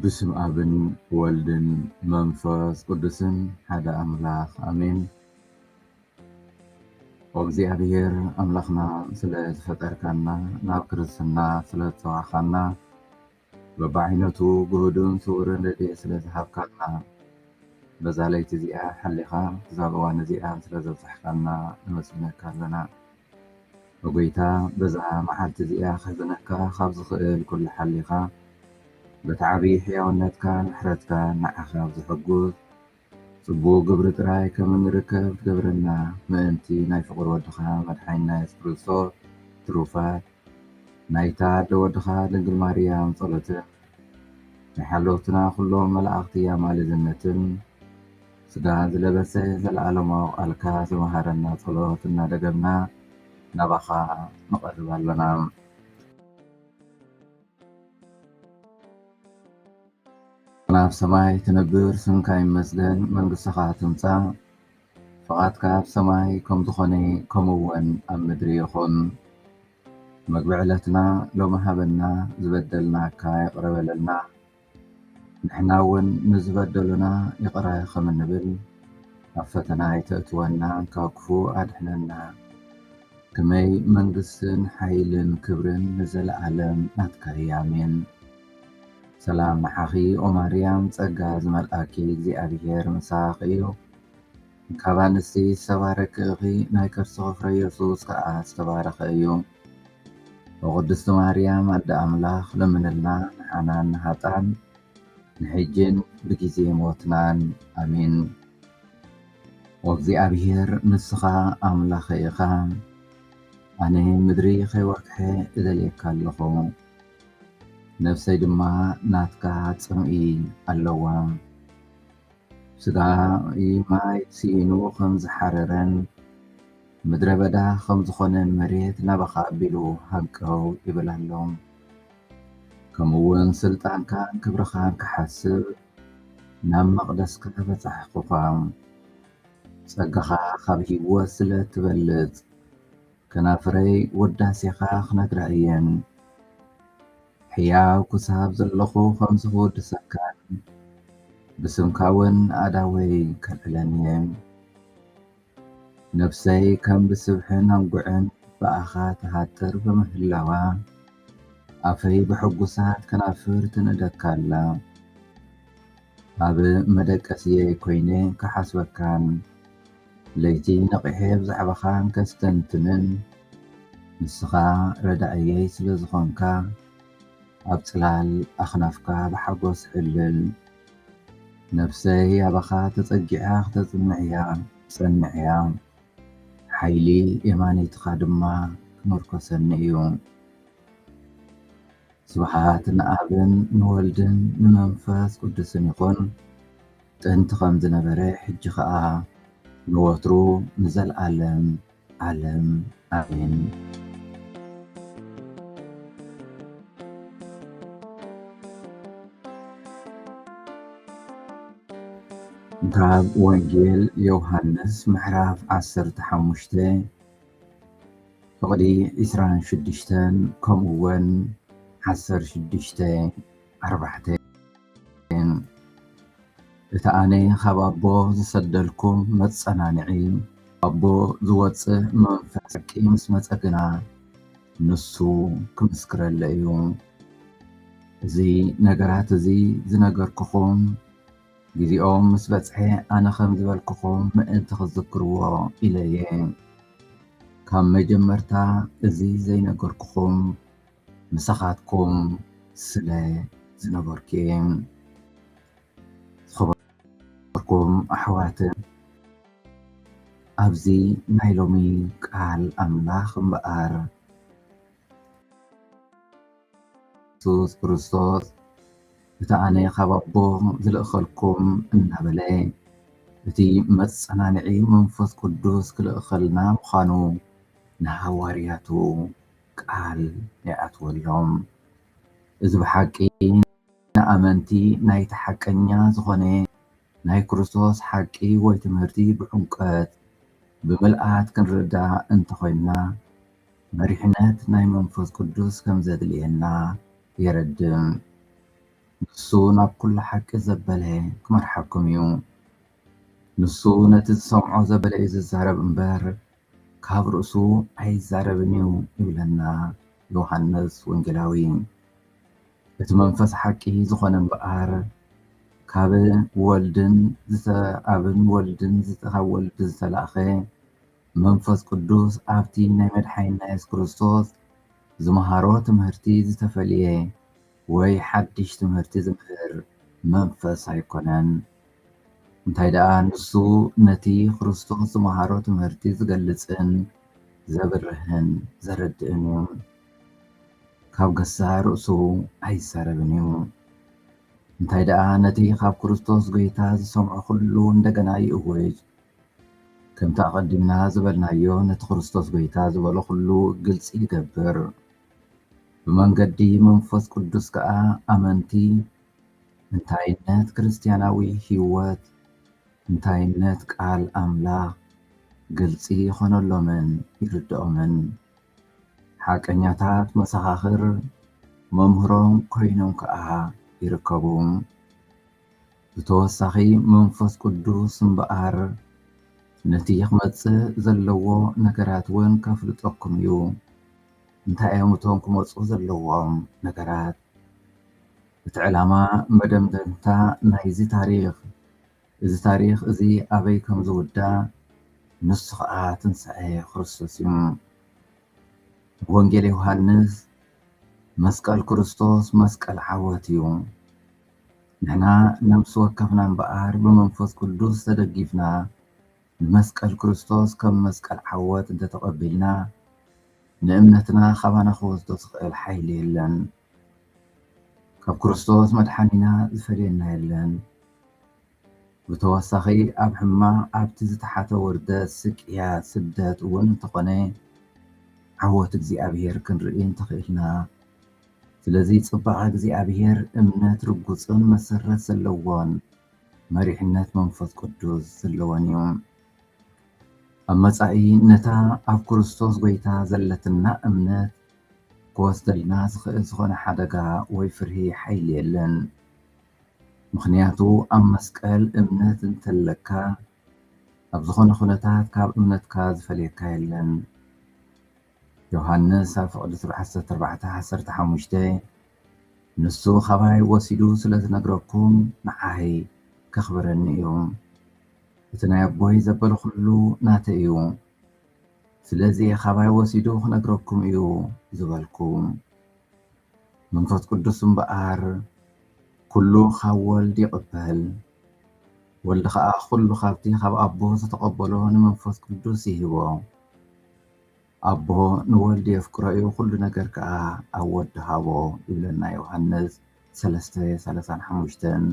ብስም ኣብን ወልድን መንፈስ ቅዱስን ሓደ ኣምላኽ ኣሜን። እግዚኣብሔር ኣምላኽና ስለ ዝፈጠርካና ናብ ክርስትና ስለ ዝጸዋዕካና በብዓይነቱ ግሁድን ስውርን ረድኤት ስለ ዝሃብካና፣ በዛ ለይቲ እዚኣ ሓሊኻ ክሳብ እዋን እዚኣ ስለ ዘብጻሕካና ነመስግነካ ኣለና። ኦ ጎይታ በዛ መዓልቲ እዚኣ ከሕዝነካ ካብ ዝኽእል ኩሉ ሓሊኻ በቲ ዓቢ ሕያውነትካን ምሕረትካን ንዓኻ ብዘሐጉስ ጽቡቕ ግብሪ ጥራይ ከም እንርከብ ትገብረና ምእንቲ ናይ ፍቕር ወድኻ መድሓኒና የሱስ ክርስቶስ ትሩፋት ናይታ ኣደ ወድኻ ድንግል ማርያም ጸሎትን ናይ ሓለውትና ኩሎም መላእኽቲ ኣማልድነትን ስጋን ዝለበሰ ዘለዓለማዊ ቃልካ ዝመሃረና ጸሎት እናደገምና ናባኻ ንቐርብ ኣለና። ኣቡና ኣብ ሰማይ ትነብር ስምካ ይመስገን መንግስትኻ ትምፃእ ፍቓድካ ኣብ ሰማይ ከም ዝኾነ ከምኡ ውን ኣብ ምድሪ ይኹን መግቢ ዕለትና ሎሚ ሃበና ዝበደልናካ ይቕረ በለልና ንሕና ውን ንዝበደሉና ይቕረ ከም እንብል ኣብ ፈተና ኣይተእትወና ካብ ክፉ ኣድሕነና ክመይ መንግስትን ሓይልን ክብርን ንዘለኣለም ናትካ እያ ኣሜን። ሰላም ንዓኺ ኦማርያም ጸጋ ዝመልኣኪ እግዚኣብሄር ምሳኺ እዩ። ካብ ኣንስቲ ዝተባረኪ እኺ ናይ ከርስኺ ፍረ የሱስ ከኣ ዝተባረኸ እዩ ኦ ቅድስቲ ማርያም ኣደ ኣምላኽ ለምንልና ንሓናን ንሃጣን ንሕጂን ብጊዜ ሞትናን ኣሜን ወእግዚኣብሔር ንስኻ ኣምላኸ ኢኻ ኣነ ምድሪ ከይወርክሐ እደልየካ ኣለኹ ነፍሰይ ድማ ናትካ ጽምኢ ኣለዋ ስጋይ ማይ ስኢኑ ኸም ዝሓረረን ምድረ በዳ ኸም ዝኾነን መሬት ናባኻ ኣቢሉ ሃንቀው ይብል ኣሎ። ከምኡውን ስልጣንካን ክብርኻን ክሓስብ ናብ መቕደስካ በጻሕኹኻ። ጸጋኻ ኻብ ህይወት ስለ እትበልጽ፣ ከናፍረይ ውዳሴኻ ኽነግራ እየን። ሕያው ክሳብ ዘለኹ ከምዚ ክውድሰካን ብስምካ ውን ኣእዳወይ ከልዕለን እየ። ነብሰይ ከም ብስብሕን ኣንጉዕን ብኣኻ ትሃጥር ብምህላዋ፣ ኣፈይ ብሕጉሳት ከናፍር ትንእደካ ኣላ። ኣብ መደቀስየይ ኮይነ ክሓስበካን ለይቲ ነቒሐ ብዛዕባኻ እንከስተንትንን ንስኻ ረዳኢየይ ስለ ዝኾንካ ኣብ ጽላል ኣኽናፍካ ብሓጎስ ሕልል ነፍሰይ ኣባኻ ተጸጊዓ ክተጽንዕያ ጸንዕያ ሓይሊ የማነይትኻ ድማ ክምርኮሰኒ እዩ። ስብሓት ንኣብን ንወልድን ንመንፈስ ቅዱስን ይኹን። ጥንቲ ኸም ዝነበረ ሕጂ ኸኣ ንወትሩ ንዘልኣለም ዓለም ኣሜን። ካብ ወንጌል ዮሃንስ ምዕራፍ ዓሰርተ ሓሙሽተ ፍቕዲ ዕስራን ሽዱሽተን ከምኡውን ዓሰርተ ሽዱሽተ ኣርባዕተ። እቲ ኣነ ኻብ ኣቦ ዝሰደልኩም መጸናንዒ፣ ኣቦ ዝወጽእ መንፈስ ሓቂ ምስ መጸ ግና፣ ንሱ ኺምስክረለይ እዩ። እዚ ነገራት እዚ ዝነገርኩኹም፣ ጊዜኦም ምስ በጽሐ ኣነ ኸም ዝበልኩኹም ምእንቲ ኽትዝክርዎ ኢለ እየ። ካብ መጀመርታ እዚ ዘይነገርኩኹም፣ ምሳኻትኩም ስለ ዝነበርኩ'የ። ዝኸበርኩም ኣሕዋትን ኣብዚ ናይ ሎሚ ቃል ኣምላኽ እምበኣር የሱስ ክርስቶስ እቲ ኣነ ካብ ኣቦ ዝልእኸልኩም እናበለ እቲ መጸናንዒ መንፈስ ቅዱስ ክልእኸልና ምዃኑ ንሃዋርያቱ ቃል ይኣትወሎም። እዚ ብሓቂ ንኣመንቲ ናይቲ ሓቀኛ ዝኾነ ናይ ክርስቶስ ሓቂ ወይ ትምህርቲ ብዕምቆት ብምልኣት ክንርዳእ እንተኾይንና መሪሕነት ናይ መንፈስ ቅዱስ ከምዘድልየና የረድእ። ንሱ ናብ ኩሉ ሓቂ ዘበለ ክመርሓኩም እዩ። ንሱ ነቲ ዝሰምዖ ዘበለ እዩ ዝዛረብ እምበር ካብ ርእሱ ኣይዛረብን እዩ ይብለና ዮሃንስ ወንጌላዊ። እቲ መንፈስ ሓቂ ዝኾነ እምበኣር ካብ ወልድን ኣብን ወልድን ካብ ወልድ ዝተላእኸ መንፈስ ቅዱስ ኣብቲ ናይ መድሓኒና የሱስ ክርስቶስ ዝመሃሮ ትምህርቲ ዝተፈልየ ወይ ሓድሽ ትምህርቲ ዝምህር መንፈስ ኣይኮነን፣ እንታይ ደኣ ንሱ ነቲ ክርስቶስ ዝመሃሮ ትምህርቲ ዝገልጽን ዘብርህን ዘረድእን እዩ፣ ካብ ገዛእ ርእሱ ኣይዛረብን እዩ፣ እንታይ ደኣ ነቲ ካብ ክርስቶስ ጎይታ ዝሰምዖ ኩሉ እንደገና ይእውጅ፣ ከምቲ ኣቐዲምና ዝበልናዮ ነቲ ክርስቶስ ጎይታ ዝበሎ ኩሉ ግልጺ ይገብር። ብመንገዲ መንፈስ ቅዱስ ከኣ ኣመንቲ እንታይነት ክርስትያናዊ ሕይወት፣ እንታይነት ቃል ኣምላኽ ግልጺ ይኾነሎምን ይርድኦምን። ሓቀኛታት መሰኻኽር መምህሮም ኮይኖም ከኣ ይርከቡ። ብተወሳኺ መንፈስ ቅዱስ እምበኣር ነቲ ክመጽእ ዘለዎ ነገራት እውን ከፍልጠኩም እዩ። እንታይ እዮም እቶም ክመፁ ዘለዎም ነገራት? እቲ ዕላማ መደምደምታ ናይዚ ታሪኽ እዚ ታሪኽ እዚ ኣበይ ከም ዝውዳእ ንሱ ኸዓ ትንሳኤ ክርስቶስ እዩ። ብወንጌል ዮሃንስ መስቀል ክርስቶስ መስቀል ዓወት እዩ። ንሕና ነብሲ ወከፍና እምበኣር ብመንፈስ ቅዱስ ተደጊፍና ንመስቀል ክርስቶስ ከም መስቀል ዓወት እንተተቐቢልና ንእምነትና ካባና ክወስዶ ዝኽእል ሓይሊ የለን። ካብ ክርስቶስ መድሓኒና ዝፈልየና የለን። ብተወሳኺ ኣብ ሕማቕ ኣብቲ ዝተሓተ ውርደት፣ ስቅያት፣ ስደት እውን እንተኾነ ዓወት እግዚኣብሔር ክንርኢ እንተኽኢልና ስለዚ ፅባቐ እግዚኣብሔር እምነት ርጉፅን መሰረት ዘለዎን መሪሕነት መንፈስ ቅዱስ ዘለወን እዩ። ኣብ መጻኢ ነታ ኣብ ክርስቶስ ጐይታ ዘለትና እምነት ክወስደልና ዝኽእል ዝኾነ ሓደጋ ወይ ፍርሂ ሓይሊ የለን። ምኽንያቱ ኣብ መስቀል እምነት እንተለካ ኣብ ዝኾነ ኩነታት ካብ እምነትካ ዝፈልየካ የለን። ዮሃንስ ኣብ ፍቕድትሩ ዓሰርተ ኣርባዕተ ዓሰርተ ሓሙሽተ ንሱ ኻባይ ወሲዱ ስለ ዝነግረኩም ንዓይ ከኽብረኒ እዩ እቲ ናይ ኣቦይ ዘበለ ዅሉ ናተይ እዩ ስለዚ ኻባይ ወሲዱ ኽነግረኩም እዩ ዝበልኩ መንፈስ ቅዱስ እምበኣር ኵሉ ኻብ ወልድ ይቕበል ወልድ ኸኣ ዅሉ ኻብቲ ኻብ ኣቦ ዝተቐበሎ ንመንፈስ ቅዱስ ይህቦ ኣቦ ንወልድ የፍቅሮ እዩ ኩሉ ነገር ከኣ ኣብ ወዲ ሃቦ ይብለና ዮሃንስ ሰለስተ ሰላሳን ሓሙሽተን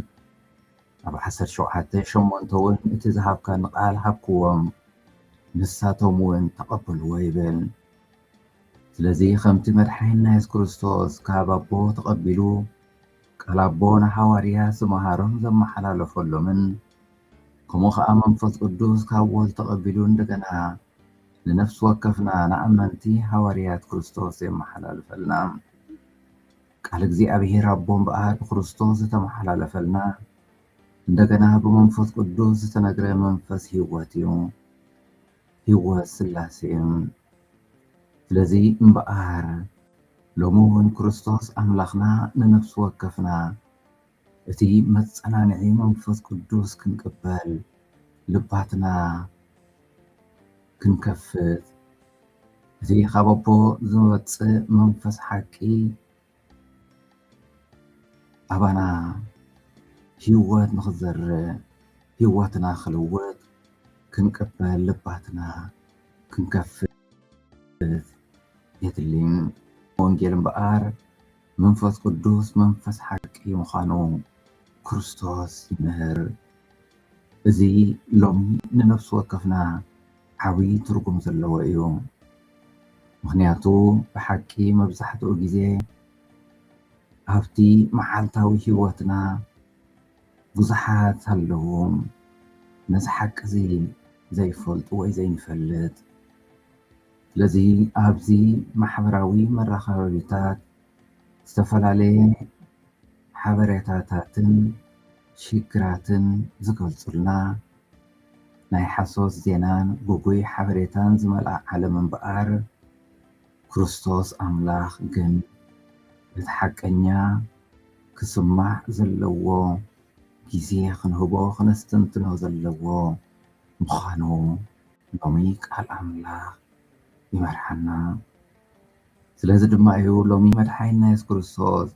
ኣብ ዓሰርተ ሸውዓተ ሸሞንተ እውን እቲ ዝሃብካኒ ቃል ሃብክዎም ንሳቶም እውን ተቐበልዎ ይብል ስለዚ ከምቲ መድሓኒና የሱስ ክርስቶስ ካብ ኣቦ ተቐቢሉ ቃል ኣቦ ንሃዋርያ ዝመሃሮም ዘመሓላለፈሎምን ከምኡ ከዓ መንፈስ ቅዱስ ካብ ወልድ ተቐቢሉ እንደገና ንነፍሲ ወከፍና ንኣመንቲ ሃዋርያት ክርስቶስ የመሓላልፈልና። ቃል እግዚኣብሔር ኣቦ እምበኣር ብክርስቶስ ዝተመሓላለፈልና እንደገና ብመንፈስ ቅዱስ ዝተነግረ መንፈስ ህይወት እዩ፣ ህይወት ስላሴ እዩ። ስለዚ እምበኣር ሎሚ እውን ክርስቶስ ኣምላኽና ንነፍሲ ወከፍና እቲ መጸናንዒ መንፈስ ቅዱስ ክንቅበል ልባትና ክንከፍት እቲ ካብ ኣቦ ዝወጽእ መንፈስ ሓቂ ኣባና ህይወት ንኽዘርእ ህይወትና ክልውጥ ክንቅበል ልባትና ክንከፍት የድሊ። ወንጌል እምበኣር መንፈስ ቅዱስ መንፈስ ሓቂ ምዃኑ ክርስቶስ ይምህር። እዚ ሎሚ ንነፍሲ ወከፍና ዓብዪ ትርጉም ዘለዎ እዩ። ምኽንያቱ ብሓቂ መብዛሕትኡ ግዜ ኣብቲ መዓልታዊ ህይወትና ብዙሓት ኣለዉ ነዚ ሓቂ እዚ ዘይፈልጡ ወይ ዘይንፈልጥ። ስለዚ ኣብዚ ማሕበራዊ መራኸቢታት ዝተፈላለየ ሓበሬታታትን ሽግራትን ዝገልፁልና ናይ ሓሶት ዜናን ግጉይ ሓበሬታን ዝመልኣ ዓለም እምበኣር ክርስቶስ ኣምላኽ ግን እቲ ሓቀኛ ክስማዕ ዘለዎ ግዜ ክንህቦ ክነስተንትኖ ዘለዎ ምዃኑ ሎሚ ቃል ኣምላኽ ይመርሓና። ስለዚ ድማ እዩ ሎሚ መድሓኒና የሱስ ክርስቶስ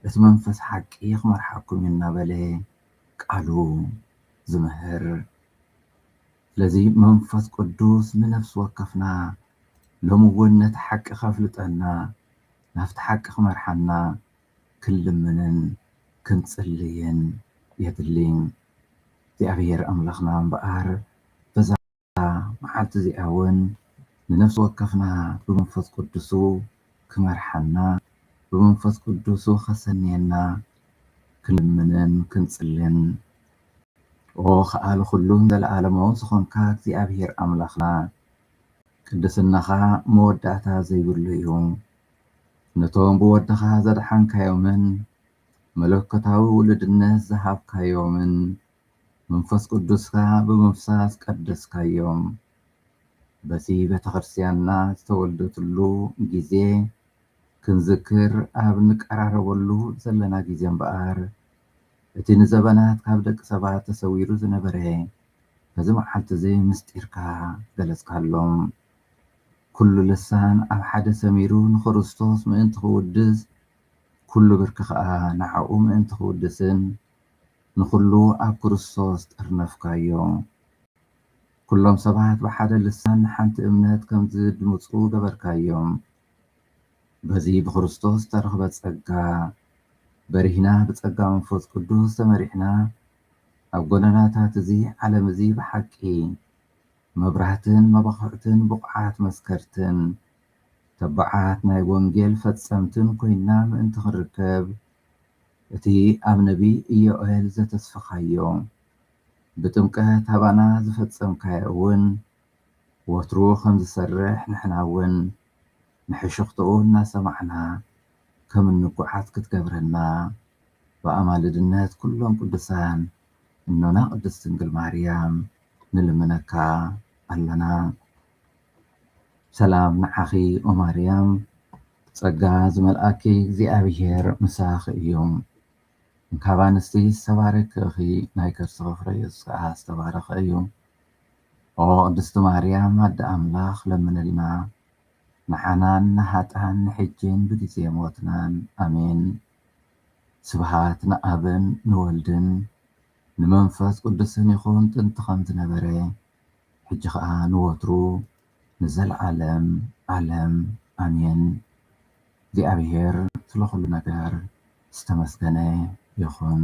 እቲ መንፈስ ሓቂ ክመርሓኩም እዩ እናበለ ቃሉ ዝምህር። ስለዚ መንፈስ ቅዱስ ንነፍሲ ወከፍና ሎሚ እውን ነቲ ሓቂ ከፍልጠና ናብቲ ሓቂ ክመርሓና ክንልምንን ክንጽልይን የድሊ። እግዚኣብሄር ኣምላኽና እምበኣር በዛ መዓልቲ እዚኣ እውን ንነፍሲ ወከፍና ብመንፈስ ቅዱሱ ክመርሓና ብመንፈስ ቅዱሱ ከሰንየና ክንልምንን ክንጽልን ኦ ከኣል ኩሉን ዘለዓለማውን ዝኾንካ እግዚኣብሔር ኣምላኽና ቅድስናኻ መወዳእታ ዘይብሉ እዩ። ነቶም ብወድኻ ዘድሓንካዮምን መለኮታዊ ውሉድነት ዝሃብካዮምን መንፈስ ቅዱስካ ብምፍሳስ ቀደስካዮም። በቲ ቤተክርስቲያንና ዝተወልደትሉ ግዜ ክንዝክር ኣብ ንቀራረበሉ ዘለና ግዜ እምበኣር እቲ ንዘበናት ካብ ደቂ ሰባት ተሰዊሩ ዝነበረ በዚ መዓልቲዚ ምስጢርካ ገለጽካሎም። ኵሉ ልሳን ኣብ ሓደ ሰሚሩ ንኽርስቶስ ምእንቲ ኺውድስ፣ ኵሉ ብርኪ ኸኣ ንኣኡ ምእንቲ ኺውድስን፣ ንዅሉ ኣብ ክርስቶስ ጠርነፍካዮ። ኵሎም ሰባት ብሓደ ልሳን ንሓንቲ እምነት ከም ዚድምጹ ገበርካዮም። በዚ ብኽርስቶስ እተረኽበ ጸጋ በሪህና፣ ብጸጋ መንፈስ ቅዱስ ተመሪሕና፣ ኣብ ጐደናታት እዚ ዓለም እዚ ብሓቂ መብራህትን መባዅዕትን ብቑዓት መስከርትን ተባዓት ናይ ወንጌል ፈጸምትን ኰይና ምእንቲ ኽንርከብ፣ እቲ ኣብ ነብዪ ኢዮኤል ዘተስፋኻዮ፣ ብጥምቀት ኣባና ዝፈጸምካዮ እውን ወትሩ ኸም ዚሰርሕ ንሕና እውን ንሕሹኽታኡ እናሰማዕና ኸም እንጐዓዝ ክትገብረና ብኣማልድነት ኵሎም ቅዱሳን እኖና ቅድስት ድንግል ማርያም ንልምነካ ኣለና ሰላም ንዓኺ ኦማርያም ጸጋ ዝመልኣኪ እግዚኣብሔር ምሳኺ እዩ እንካብ ኣንስቲ ዝተባረኪ እኺ ናይ ከርስኺ ፍረ የሱስ ከኣ ዝተባረኸ እዩ ኦ ቅድስቲ ማርያም ኣደ ኣምላኽ ለምንልና ንዓናን ንሃጣን ንሕጅን ብግዜ ሞትናን ኣሜን ስብሃት ንኣብን ንወልድን ንመንፈስ ቅዱስን ይኹን ጥንቲ ከም ዝነበረ ሕጂ ከኣ ንወትሩ ንዘልኣለም ኣለም ኣሜን እግዚኣብሔር ስለ ኩሉ ነገር ዝተመስገነ ይኹን።